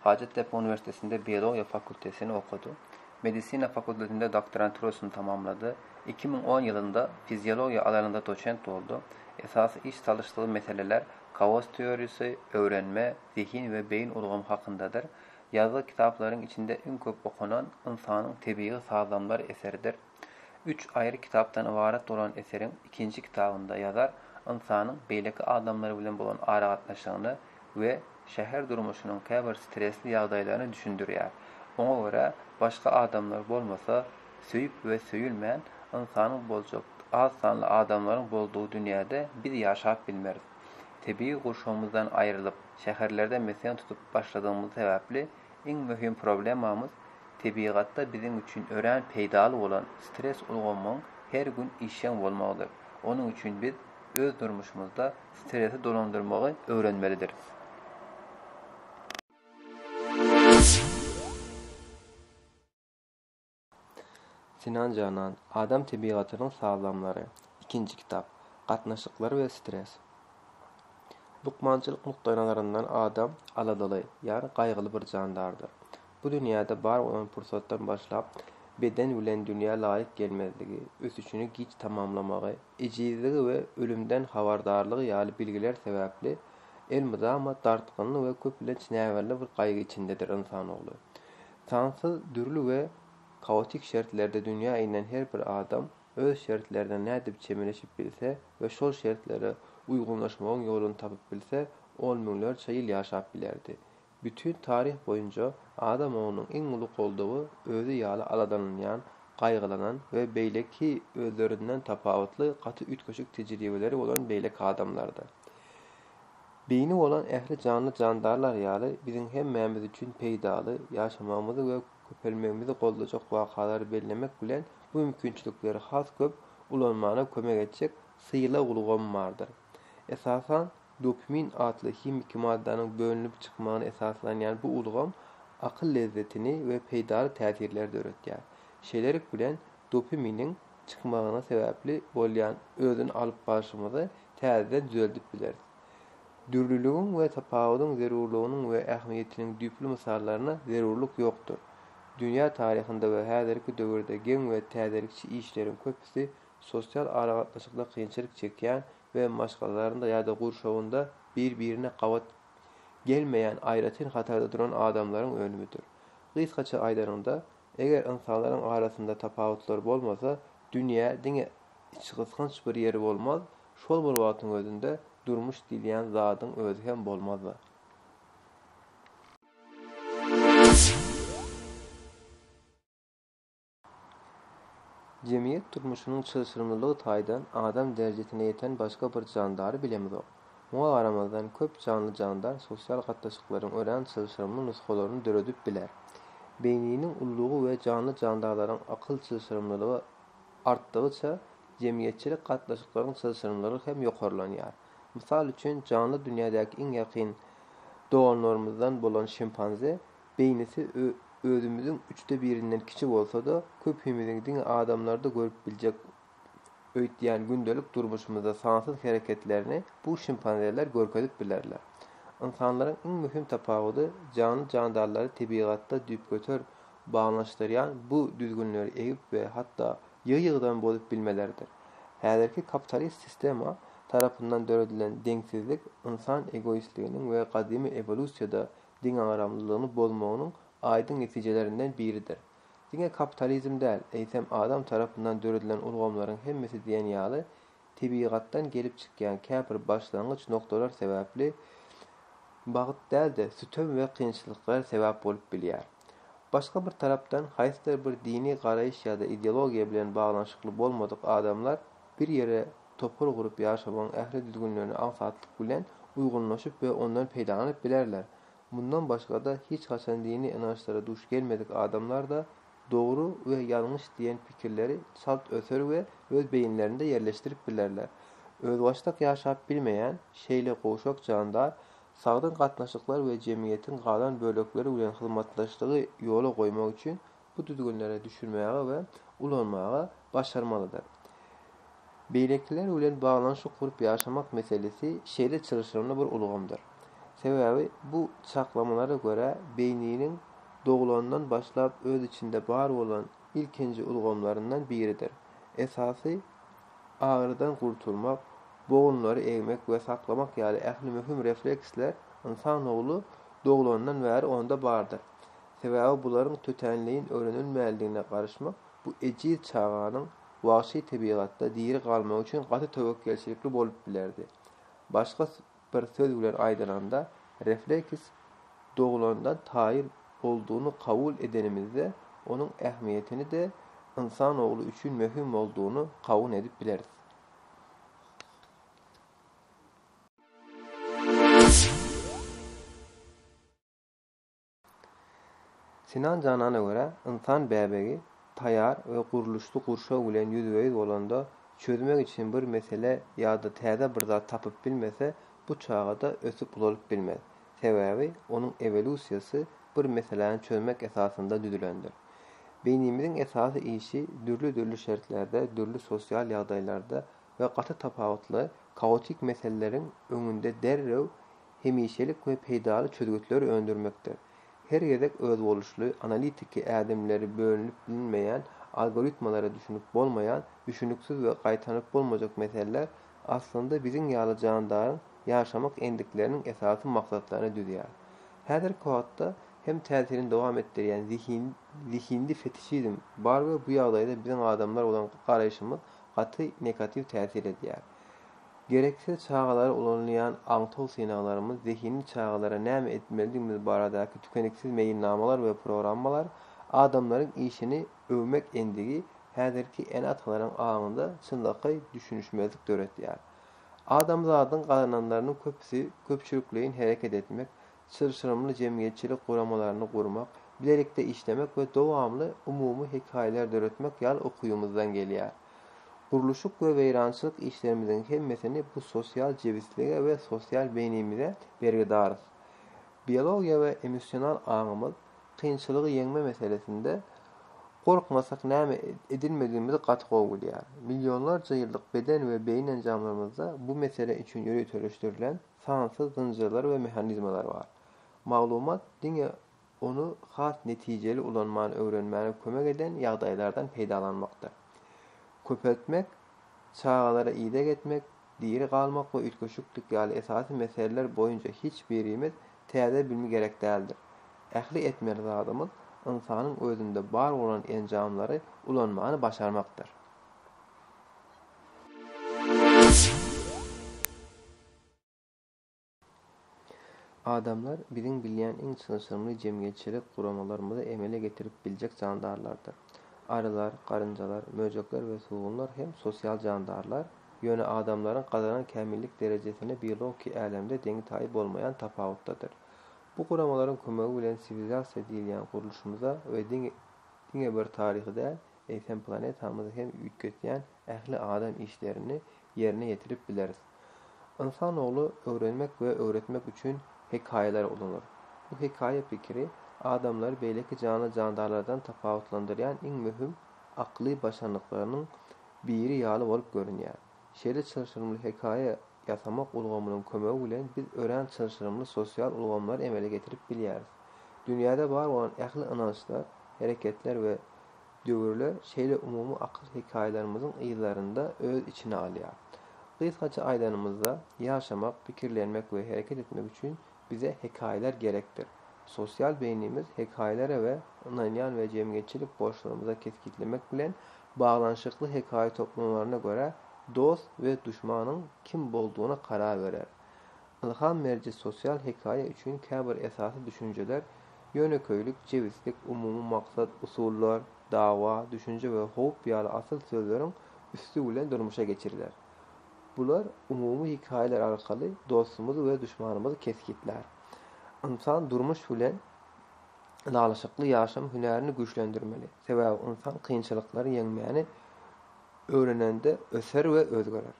Hajatdepe uniwersitetinde biologiýa fakultetini okady. Medisina fakultetinde doktoranturasyny tamamlady. Iki müň on ýylynda fiziologiýa alanynda doçent boldy. Esasy iş salyşdygy meseleler kaos teoriýasy, öwrenme, zehin we beýin ulgamy hakyndadyr. Ýazgy kitaplaryň içinde iň köp okanan Ynsanyň tebigy sazlamlary eseridir. Üç aýry kitapdan ybarat bolan eseriň ikinji kitabynda ýazar ynsanyň beýleki adamlar bilen bolan aragatnaşygyny we şäher durmuşynyň käbir stresli ýagdaýlaryny düşündirýär. Oňa görä, başga adamlar bolmasa, söýüp we söýülmän, ynsanyň boljak az sanly adamlaryň boldugy dünýäde biz ýaşap bilmeris. Tebigy gurşawymyzdan aýrylyp, şäherlerde mesgen tutup başladygymyz sebäpli, Iň möhüm problemamyz tebigatda biziň üçin örän peýdaly bolan stres ulgamyň her gün işjeň bolmagydyr. Onuň üçin biz öz durmuşymyzda stresi dolandyrmagy öwrenmelidiris. Sinan Janan, Adam tebigatynyň sazlamlary, ikinji kitap, Gatnaşyklar we stres. Lukmançylyk nukdaýnazaryndan adam aladaly, ýagny gaýgyly bir jandardyr. Bu dünýäde bar bolan pursatdan başlap, beden bilen dünýä laýyk gelmezligi, ösüşini giç tamamlamagy, ejizligi we ölümden habardarlygy ýaly bilgiler sebäpli elmydama dartgynly we köplenç näbelli bir gaýgy içindedir ynsan ogly. Sansyz dürli we kaotik şertlerde dünýä inen her bir adam öz şertlerine nädip çemeleşip bilse we şol şertlere uýgunlaşmagyň ýoluny tapyp bilse, on müňlerçe ýyl ýaşap bilerdi. Bütin taryh boýunca adam oglunyň iň uly goldawy özi ýaly aladalanýan, gaýgylanan we beýleki özlerinden tapawutly gaty üýtgeşik tejribeleri bolan beýleki adamlardy. Beýni bolan ähli janly-jandarlar ýaly biziň hemmämiz üçin peýdaly, ýaşamagymyzy we köpelmegimizi goldajak wakalary bellemek bilen bu mümkinçilikleri has köp ulanmana kömek etjek sylag ulgamy bardyr. Esasan, dopimin atly himiki maddanyň bölünip çykmagyna esaslanýan bu ulgam akyl lezzetini we peýdaly täsirleri döretýär. Şeýlelik bilen, dopiminiň. çykmagyna sebäpli bolýan özüni alyp barşymyzy täzeden düzeldip bileris. Dürlüligiň we tapawudyň zerurlygynyň we ähmiýetiniň düýpli mysallaryna zerurlyk ýokdur. Dünýä taryhynda we häzirki döwürde geň we täzelikçi işleriň köpüsi sosial aragatnaşykda kynçylyk çekýän we maşgalalarynda ýa-da gurşawynda bir-birine gabat gelmeýän aýratyn hatarda duran adamlaryň önümidir. Gysgaça aýdanyňda, Eger ynsanlaryň arasynda tapawutlar bolmasa, dünýä diňe içgysgynç bir ýeri bolmaz, şol bir wagtyň özünde durmuş diýilýän zadyň özi hem bolmaz-da. Jemgyýet durmuşynyň çylşyrymlylygy taýdan adam derejesine ýeten başga bir jandary bilemizok. Muňa garamazdan, köp janly-jandar sosial gatnaşyklaryň örän çylşyrymly nusgalaryny döredip biler. Beýniniň ullugy we janly-jandarlaryň akyl çylşyrymlylygy artdygyça, jemgyýetçilik gatnaşyklaryň çylşyrymlylygy hem ýokarlanýar. Mysal üçin, janly dünýädäki iň ýakyn doganlarymyzdan bolan şimpanze beýnisi özümiziň üçde birinden kiçi bolsa-da, köpimiziň diňe adamlarda görüp biljek öýtýän gündelik durmuşymyzda sansyz hereketlerini bu şimpanzeler görkezip bilerler. Ynsanlaryň iň möhüm tapawudy janly-jandarlary tebigatda düýpgöter baglanyşdyrýan bu düzgünleri egip we hatda ýygy-ýygydan bozup bilmeleridir. Häzirki kapitalist sistema tarapyndan döredilen deňsizlik ynsan egoistliginiň we gadymy ewolýusiýada deňagramlylygyny bozmagynyň aýdyň netijelerinden biridir. Diňe kapitalizm däl, eýsem adam tarapyndan döredilen ulgamlaryň hemmesi diýen ýaly tebigatdan gelip çykýan käbir başlangyç nokdalar sebäpli bagt däl-de, sütem we kynçylyklar sebäp bolup bilýär. Başga bir tarapdan, haýsydyr bir dini garaýyş ýa-da ideologiýa bilen baglanyşykly bolmadyk adamlar bir ýere topar gurup ýaşamagyň ähli düzgünlerine aňsatlyk bilen uýgunlaşyp we ondan peýdalanyp bilerler. Mundan başga-da hiç haçan dini ynançlara duş gelmedik adamlar-da dogry we ýalňyş diýen pikirleri çalt öter we öz beýinlerinde ýerleşdirip bilerler. Özbaşdak ýaşap bilmeýän şeýle gowşak jandar sagdyn gatnaşyklar we jemgyýetiň galan bölekleri bilen hyzmatdaşlygy ýola goýmak üçin bu düzgünlere düşünmäge we ulanmaga başarmalydyr. Beýlekiler bilen baglanyşyk gurup ýaşamak meselesi şeýle çylşyrymly bir ulgamdyr. Sebäbi bu çaklamalara görä beýniniň doglandan başlap öz içinde bar bolan ilkinji ulgamlaryndan biridir. Esasy agyrydan gurtulmak, bogunlary egmek we saklamak ýaly ähli möhüm refleksler ynsan ogly doglandan bäri onda bardyr. Sebäbi bularyň tötänleýin öwrenilmänligine garaşmak bu ejiz çaganyň wagşy tebigatda diri galmagy üçin gaty töwekgelçilikli bolup bilerdi. Başga bir söz bilen aýdylanda, refleks doglandan taýyn boldugyny kabul edenimizde, onuň ähmiýetini-de ynsan ogly üçin möhüm boldugyny kabul edip bileris. Sinan Janana görä, ynsan bäbegi taýar we gurluşly gurşaw bilen ýüzbe-ýüz bolanda, çözmek üçin bir mesele ýa-da täze bir zat tapyp bilmese, bu çaga-da ösüp-ulalyp bilmez. Sebäbi onuň ewolýusiýasy bir meseläni çözmek esasynda düzülendir. Beýnimiziň esasy işi dürli-dürli şertlerde, dürli sosial ýagdaýlarda we gaty tapawutly, kaotik meseleleriň öňünde derrew hemişelik we peýdaly çözgütleri öndürmekde, her gezek özboluşly analitiki ädimleri bölünip bilinmeýän algoritmalara düşünip bolmaýan düşüniksiz we gaýtanyp bolmajak meseleler aslynda biziň ýaly jandaryň ýaşamak endikleriniň esasy maksatlaryny düzýär. Häzirki wagtda hem täsirini dowam etdirýän zihin zihindi fetişizm bar we bu ýagdaýda biziň adamlar bolan garaýşymyz gaty negatiw täsir edýär. Gereksiz çagalara ulanylýan aňtaw synaglarymyz zehinli çagalara näme etmelidigimiz baradaky tükeniksiz meýilnamalar we programmalar, adamlaryň işini öwmek endigi häzirki ene-atalaryň aňynda çynlakaý düşünişmezlik döretýär. Adamzadyň gazananlarynyň köpüsi köpçülikleýin hereket etmek, çylşyrymly jemgyýetçilik guramalaryny gurmak, bilelikde işlemek we dowamly umumy hekaýalar döretmek ýaly ukybyymyzdan gelýär. Gurluşyk we weýrançylyk işlerimiziň hemmesini bu sosial jebislige we sosial beýnimize bergidarys. Biologiýa we emosional aňymyz kynçylygy ýeňme meselesinde gorkmasak näme edilmedigimizi gaty gowy bilýär. Millionlarça ýyllyk beden we beýin enjamlarymyzda bu mesele üçin ýöriteleşdirilen, sansyz zynjyrlar we mehanizmalar bar. Maglumat diňe ony has netijeli ulanmany öwrenmäne kömek eden ýagdaýlardan peýdalanmakdyr. Köpeltmek, çagalara ideg etmek, diri galmak we üýtgeşiklik ýaly esasy meseleler boýunça hiç birimiz täze bilmi gerek däldir. Ähli etmeli zadymyz ynsanyň özünde bar bolan enjamlary ulanmany başarmakdyr. Adamlar biziň bilýän iň çylşyrymly jemgyýetçilik guramalarymyzy emele getirip biljek jandarlardyr. Arylar, garynjalar, möjekler we sugunlar hem sosial jandarlar, ýöne adamlaryň gazanan kämillik derejesine biologiki älemde deňi-taýy bolmaýan tapawutdadyr. Bu guramalaryň kömegi bilen siwilizasiýa diýilýän gurluşymyza we diňe bir taryhy däl, eýsem planetamyzy hem üýtgetýän ähli adam işlerini ýerine ýetirip bileris. Ynsan ogly öwrenmek we öwretmek üçin hekaýalary ulanar. Bu hekaýa pikiri adamlary beýleki janly-jandarlardan tapawutlandyrýan iň möhüm akly başarnyklarynyň biri ýaly bolup görünýär. Şeýle çylşyrymly hekaýa ýasamak ulgamynyň kömegi bilen biz örän çylşyrymly sosial ulgamlary emele getirip bilýäris. Dünýäde bar bolan ähli ynançlar, hereketler we döwürler şeýle umumy akyl hekaýalarymyzyň yzlarynda öz içine alýar. Gysgaça aýdanymyzda, ýaşamak, pikirlenmek we hereket etmek üçin Bize hekaýalar gerekdir. Sosial beýnimiz hekaýalara we ynanýan we jemgyýetçilik borçlarymyza kesgitlemek bilen baglanyşykly hekaýa toplumlaryna görä dost we duşmanyň kim boldugyna karar berer. Ylham beriji sosial hekaýa üçin käbir esasy düşünjeler, ýönekeýlik, jebislik, umumy maksat, usullar, dawa, düşünje we howp ýaly asyl sözleriň üsti bilen durmuşa geçiriler. Bular umumy hekaýalar arkaly dostumyzy we duşmanymyzy kesgitlär. Ynsan durmuş bilen ylalaşykly ýaşam hünärini güýçlendirmeli, sebäbi ynsan kynçylyklary ýeňmäni öwrenende öser we özgerer.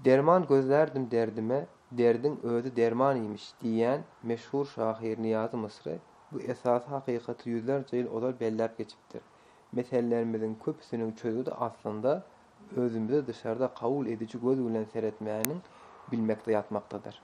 Derman gözlärdim derdime, derdiň özi derman iýmiş diýýän meşhur şahyr Niýazy Mysry bu esasy hakykaty ýüzlerçe ýyl ozal belläp geçipdir. Mesellerimiziň köpüsiniň çözgüdi aslynda özümize dyşarda kabul ediji göz bilen seretmäniň bilmekde ýatmakdadyr.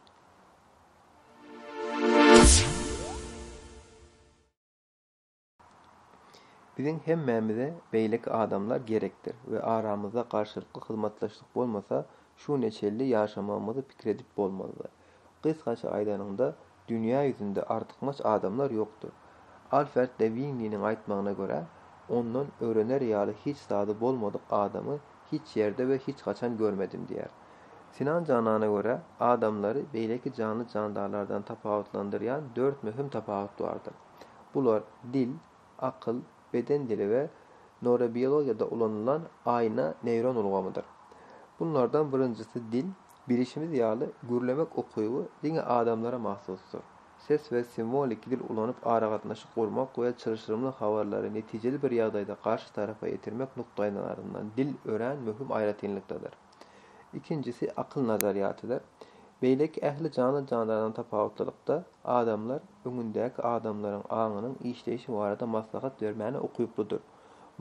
Biziň hemmämize beýleki adamlar gerekdir we aramyzda garşylykly hyzmatdaşlyk bolmasa, şu ne çelli ýaşamagymyzy pikir edip bolmazdy. Gysgaça aýdanyňda, dünýä ýüzünde artykmaç adamlar ýokdur. Alferd de Winniniň aýtmagyna görä, ondan öwrener ýaly hiç zady bolmadyk adamy hiç ýerde we hiç haçan görmedim diýýär. Sinan Janana görä, adamlary beýleki janly-jandarlardan tapawutlandyrýan dört möhüm tapawut bardyr. Bular, dil, akyl, beden dili we norebiologiýada ulanylan aýna neýron ulgamydyr. Bunlardan birinjisi dil, bilişimiz ýaly, gürlemek ukyby diňe adamlara mahsusdyr. Ses we simwoliki dil ulanyp aragatnaşyk gurmak we çylşyrymly habarlary netijeli bir ýagdaýda garşy tarapa ýetirmek nukdaýnazaryndan dil örän möhüm aýratynlykdadyr. Ikinjisi akyl nazarýatydyr. Beýleki ähli janly-jandardan tapawutlylykda, adamlar öňündäki adamlaryň aňynyň işleýşi barada maslahat bermäne ukyklydyr.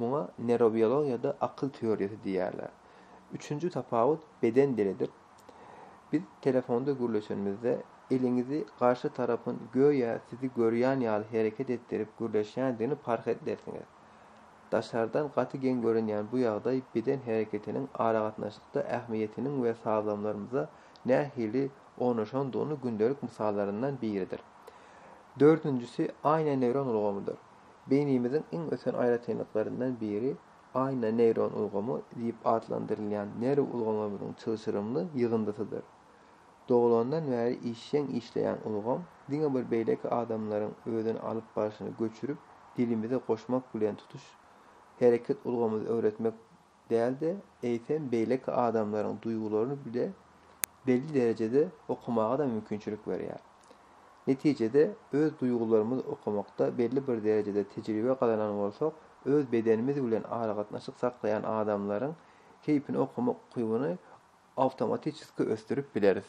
Muňa newrobiologiýada akyl teoriýasy diýýärler. Üçünji tapawut beden dilidir. Biz telefonda gürleşenimizde, eliňizi garşy tarapyň göýä sizi görýän ýaly hereket etdirip gürleşýändigini parh edersiňiz. Daşardan gaty geň görünýän bu ýagdaý beden hereketiniň aragatnaşykda ähmiýetiniň we sazlamlarymyza nähili ornaşandygyny gündelik mysallaryndan biridir. Dördünjisi aýna neýron ulgamydyr. Beýnimiziň iň ösen aýratynlyklaryndan biri aýna neýron ulgamy diýip atlandyrylýan nerw ulgamlarymyzyň çylşyrymly ýygyndysydyr. Doglandan bäri işjeň işleýän ulgam diňe bir beýleki adamlaryň özüni alyp barşyny göçürip, dilimize goşmak bilen tutuş hereket ulgamyny öwretmek däl-de, eýsem, beýleki adamlaryň duýgularyny bile belli derejede okamaga-da mümkinçilik berýär. Netijede, öz duýgularymyzy okamakda belli bir derejede tejribe gazanan bolsak, öz bedenimiz bilen aragatnaşyk saklaýan adamlaryň keýpini okamak ukybyny awtomatiçeski ösdürip bileris.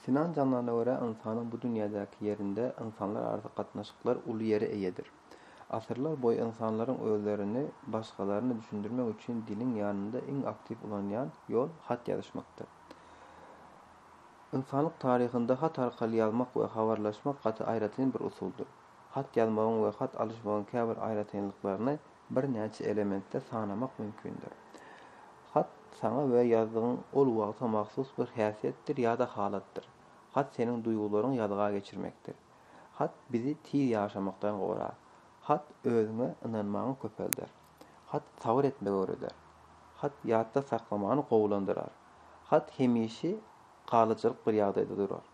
Sinan Janlana görä, ynsanyň bu dünýädäki ýerinde ynsanlararasy gatnaşyklar uly ýere eýedir. Asyrlar boýy ynsanlaryň özlerini başgalaryna düşündirmek üçin diliň ýanynda iň aktiw ulanýan ýol hat ýazyşmakdyr. Ynsanlyk taryhynda hat arkaly ýazmak we habarlaşmak gaty aýratyn bir usuldyr. Hat ýazmagyň we hat alyşmagyň käbir aýratynlyklaryny birnäçe elementde sanamak mümkindir. Hat saňa we ýazdygyň ol wagta mahsus bir häsiýetdir ýa-da halatdyr. Hat seniň duýgularyňy ýazga geçirmekdir. Hat bizi tiz ýaşamakdan gorar. Hat özüňe ynanmaňy köpelder. Hat sabyr etmegi öwreder. Hat ýatda saklamany gowulandyrar. Hat hemişe galyjylyk bir ýagdaýda durar.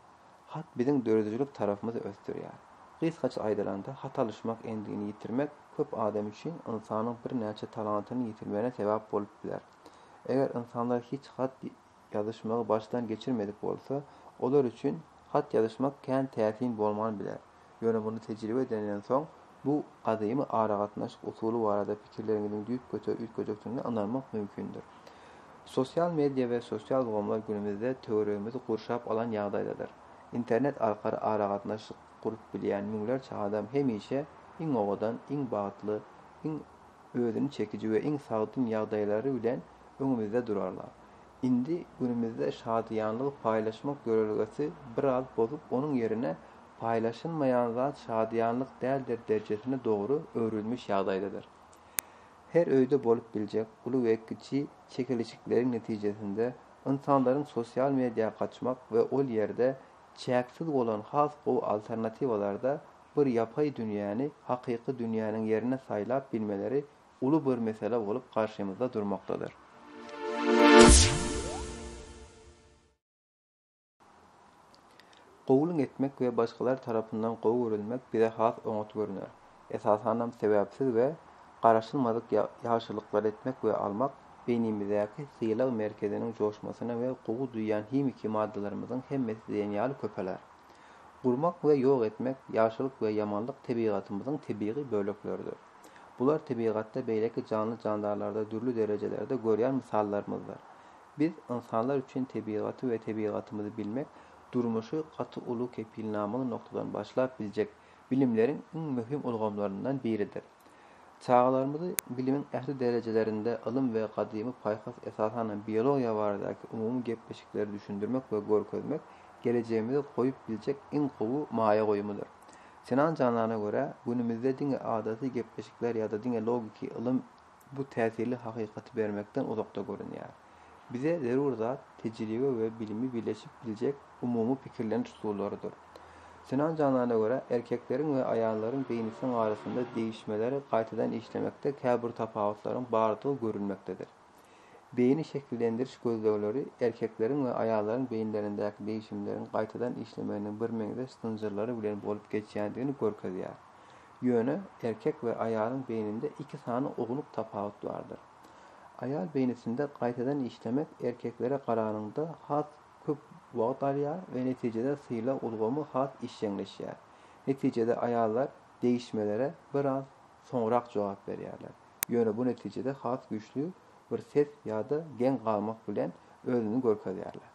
Hat biziň döredijilik tarapymyzy ösdürýär. Gysgaça aýdylanda, hat alyşmak endigini ýitirmek köp adam üçin ynsanyň birnäçe talantyny ýitirmegine sebäp bolup biler. Eger ynsanlar hiç hat ýazyşmagy başdan geçirmedik bolsa, olar üçin hat ýazyşmak kän täsin bolman biler. Ýöne muny tejribe edeniňden soň, bu gadymy aragatnaşyk usuly barada pikirleriňiziň düýp göter üýtgejekdigine ynanmak mümkindir. Sosial media we sosial ulgamlar günümizde töweregimizi gurşap alan ýagdaýdadyr. Internet arkaly aragatnaşyk gurup bilýän müňlerçe adam hemişe iň owadan, iň bagtly, iň özüni çekiji we iň sagdyn ýagdaýlary bilen öňümizde durarlar. Indi günümizde şadyýanlygy paýlaşmak ýörelgesi biraz bozup, onuň ýerine Paýlaşylmaýan zat şadyýanlyk däldir derjesine dogry öwrülmiş ýagdaýdadyr. Her öýde bolup biljek uly we kiçi çekeleşikleriň netijesinde ynsanlaryň sosial mediýa gaçmak we ol ýerde çäksiz bolan has gowy alternatiwalarda bir ýapaý dünýäni hakyky dünýäniň ýerine saýlap bilmeleri uly bir mesele bolup garşymyzda durmakdadyr. Kabul etmek we başgalar tarapyndan gowy görülmek bize has oňat görüner. Esasanam sebäpsiz we garaşylmadyk ýagşylyklary etmek we almak beýnimizdäki sylag merkeziniň joşmasyny we gowy duýýan himiki maddalarymyzyň hemmesi diýen ýaly köpeler. Gurmak we ýok etmek, ýagşylyk we ýamanlyk tebigatymyzyň tebigy bölekleridir. Bular tebigatda beýleki janly-jandarlarda dürli derejelerde görýän mysallarymyzdyr. Biz, ynsanlar üçin tebigaty we tebigatymyzy bilmek durmuşy gaty uly kepilnamaly noktadan başlap biljek bilimleriň iň möhüm ulgamlaryndan biridir. Çagalarymyzy bilimiň ähli derejelerinde ylym we gadymy paýhas esasanam biologiýa baradaky umumy gepleşikleri düşündirmek we görkezmek gelejegimize goýup biljek iň gowy maýa goýumydyr. Sinan Janana görä, günümizde diňe adaty gepleşikler ýa-da diňe logiki ylym bu täsirli hakykaty bermekden uzakda görünýär. Bize zerur zat tejribe we bilimi birleşip biljek umumy pikirleniş usullarydyr. Sinan Janana görä, erkekleriň we aýallaryň beýnisiniň arasynda degişmeleri gaýtadan işlemekde käbir tapawutlaryň bardygy görülmekdedir. Beýni şekillendiriş gözlegleri erkekleriň we aýallaryň beýinlerindäki degişimleriň gaýtadan işlemeginiň birmeňzeş zynjyrlary bilen bolup geçýändigini görkezýär. Ýöne erkek we aýalyň beýninde iki sany ownuk tapawut bardyr. Aýal beýnisinde gaýtadan işlemek erkeklere garanyňda has köp wagt alýar we netijede sylag ulgamy has işjeňleşýär. Netijede aýallar degişmelere biraz soňrak jogap berýärler, ýöne bu netijede has güýçli bir ses ýa-da geň galmak bilen özüni görkezýärler.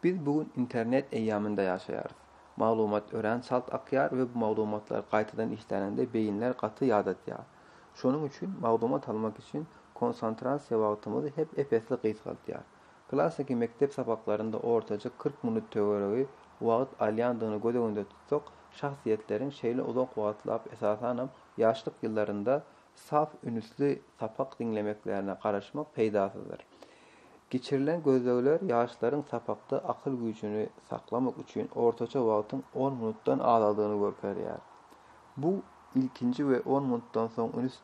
Biz bu gün internet eýýamynda ýaşaýarys. Maglumat örän çalt akýar we bu maglumatlar gaýtadan işläninde beýinler gaty ýadatýar. Şonuň üçin maglumat almak üçin konsantrasiýa wagtymyzy hep ep-esli gysgaltýar. Klassyky mekdep sapaklarynda ortaça kyrk minut töweregi wagt alýandygyny göz öňünde tutsak, şahsyýetleriň şeýle uzak wagtlap esasanam ýaşlyk ýyllarynda sap ünsli sapak diňlemeklerine garaşmak peýdasyzdyr. Geçirilen gözlegler ýaşlaryň sapakda akyl güýjüni saklamak üçin ortaça wagtyň on minutdan azaldygyny görkezýär. Bu ilkinji we on minutdan soň üns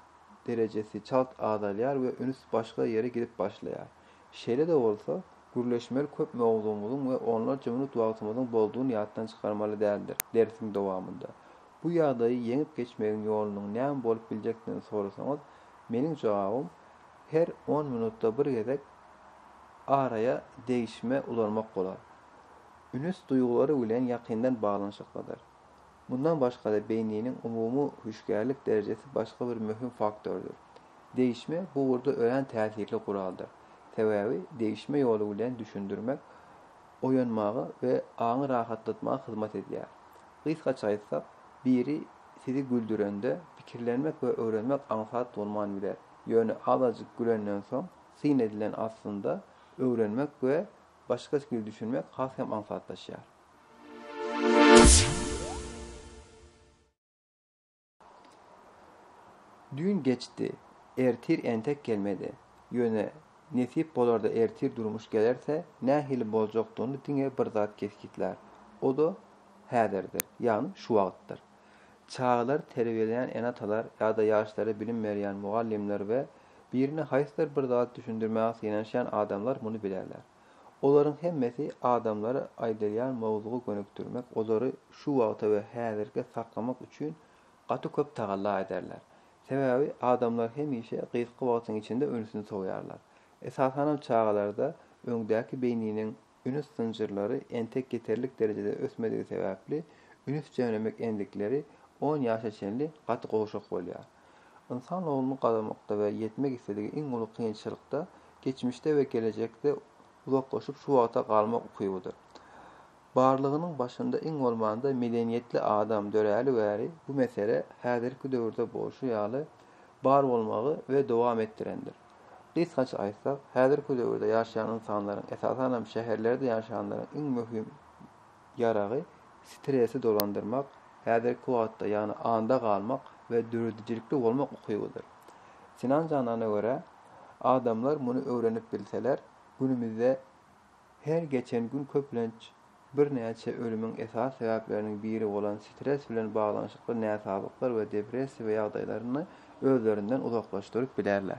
derejesi çalt azalýar we üns başga ýere gidip başlaýar. Şeýle-de bolsa, gürleşmeli köp mowzugymyzyň we onlarça minut wagtymyzyň boldugyny ýatdan çykarmaly däldir. Dersiň dowamynda Bu ýagdaýy ýeňip geçmegiň ýolunyň näme bolup biljekdigini sorasaňyz, meniň jogabym, her on minutda bir gezek araýa degişme ulanmak bolar. Ünüs duýgulary bilen ýakyndan baglanyşyklydyr. Mundan başga-da beýniniň umumy hüşgärlik derejesi başga bir möhüm faktordyr. Degişme bu ugurda örän täsirli guraldyr. Sebäbi degişme ýoly bilen düşündirmek oýanmaga we aňy rahatlatmaga hyzmat edýär. Gysgaça aýtsak, biri sizi güldürende, pikirlenmek we öwrenmek aňsat bolman biler. Ýöne azajyk gülenden soň, syn edilen aslynda, öwrenmek we başga skil düşünmek has hem aňsatlaşýar. Düýn geçdi. Ertir entek gelmedi. Ýöne, nesip bolarda ertir durmuş gelerse, nähili boljakdygyny diňe bir zat kesgitlär. O-da häzirdir, ýagny şu wagtdyr. Çagalary terbiýeleýän ene-atalar ýa-da ýaşlara bilim berýän mugallymlar we birine haýsydyr bir zady düşündirmäge synanyşýan adamlar muny bilerler. Olaryň hemmesi adamlary aýdylýan mowzuga gönükdirmek, olary şu wagta we häzirkä saklamak üçin gaty köp tagalla ederler. Sebäbi adamlar hemişe gysga wagtyň içinde ünsüni sowýarlar. Esasanam çagalarda öňdäki beýniniň ünüs zynjyrlary entek ýeterlik derejede ösmedigi sebäpli ünüs jemlemek endikleri on ýaşa çenli gaty gowşak bolýar. Ynsan ogluny gadamakda we ýetmek isledigi iň uly kynçylykda geçmişde we gelejekde uzaklaşyp şu wagta galmak ukybydyr. Barlygynyň başynda iň bolmanda medeniýetli adam döräli bäri bu mesele häzirki döwürde bolşy ýaly bar bolmagy we dowam etdirendir. Gysgaça aýtsak, häzirki döwürde ýaşaýan ynsanlaryň, esasanam şäherlerde ýaşaýanlaryň iň möhüm, ýaragy, stresi dolandyrmak, häzirki wagtda, ýagny anda galmak we döredijilikli bolmak ukybydyr. Sinan Janana görä, adamlar muny öwrenip bilseler, günümizde her geçen gün köplenç birnäçe ölümiň esasy sebäpleriniň biri bolan stres bilen baglanyşykly näsazlyklar we depressiýa ýagdaýlaryny özlerinden uzaklaşdyryp bilerler.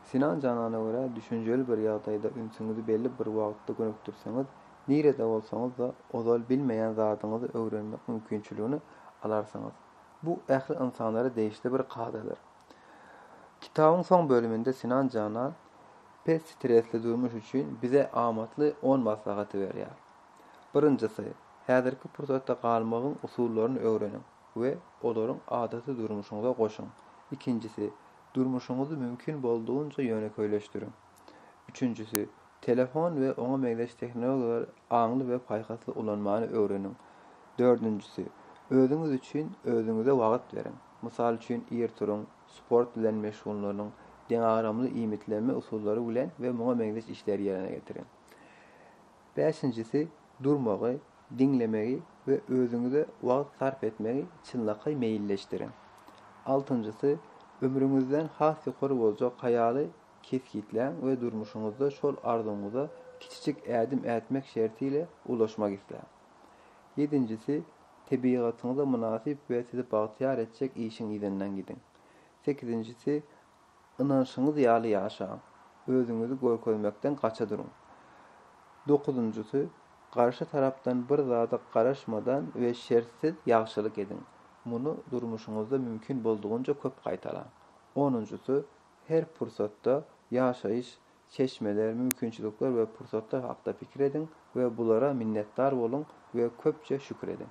Sinan janana görä düşünjeli bir ýagdaýda ünsüňizi belli bir wagtda gönükdirseňiz, nirede bolsaňyzda ozal bilmeýän zadyňyzy öwrenmek mümkinçiligini alarsyňyz. Bu ähli ynsanlara degişli bir kadadyr. Kitabyň soň bölüminde Sinan jana pes stresli durmuş üçin bize amatly on maslahaty berýär. Birinjisi, häzirki pursatda galmagyň usullaryny öwreniň. we olaryň adaty durmuşyňyza goşuň. Ikinjisi, durmuşyňyzy mümkin boldugyňça ýönekeýleşdiriň. Üçünjisi, telefon we oňa meňzeş tehnologiýalary aňly we paýhasly ulanmany öwreniň. Dördünjisi, özüňiz üçin özüňize wagt beriň. Mysal üçin, ir turuň, sport bilen meşgullanyň, deňagramly iýmitlenme usullary bilen we muňa meňzeş işleri ýerine getiriň. Bäşinjisi, durmagy, diňlemegi we özüňize wagt sarp etmegi çynlakaý meýilleşdiriň. Altynjysy, ömrüňizden has ýokary boljak haýaly kesgitläň we durmuşyňyzda şol arzuwyňyza kiçijik ädim ätmek şerti ile ulaşmak isläň. Ýedinjisi, tebigatyňyza mynasyp we sizi bagtyýar etjek işiň yzyndan gidiň. Sekizinjisi, Ynanşyňyz ýaly ýaşaň. Özüňizi görkezmekden gaça duruň. Dokuzynjysy, Garşy tarapdan bir zada garaşmadan we şertsiz ýagşylyk ediň. Muny durmuşyňyzda mümkin boldugynca köp gaýtalaň. Onunjysy, Her pursatda ýaşaýyş, çeşmeler, mümkinçilikler we pursatlar hakda pikir ediň we bulara minnetdar boluň we köpçe şükür ediň.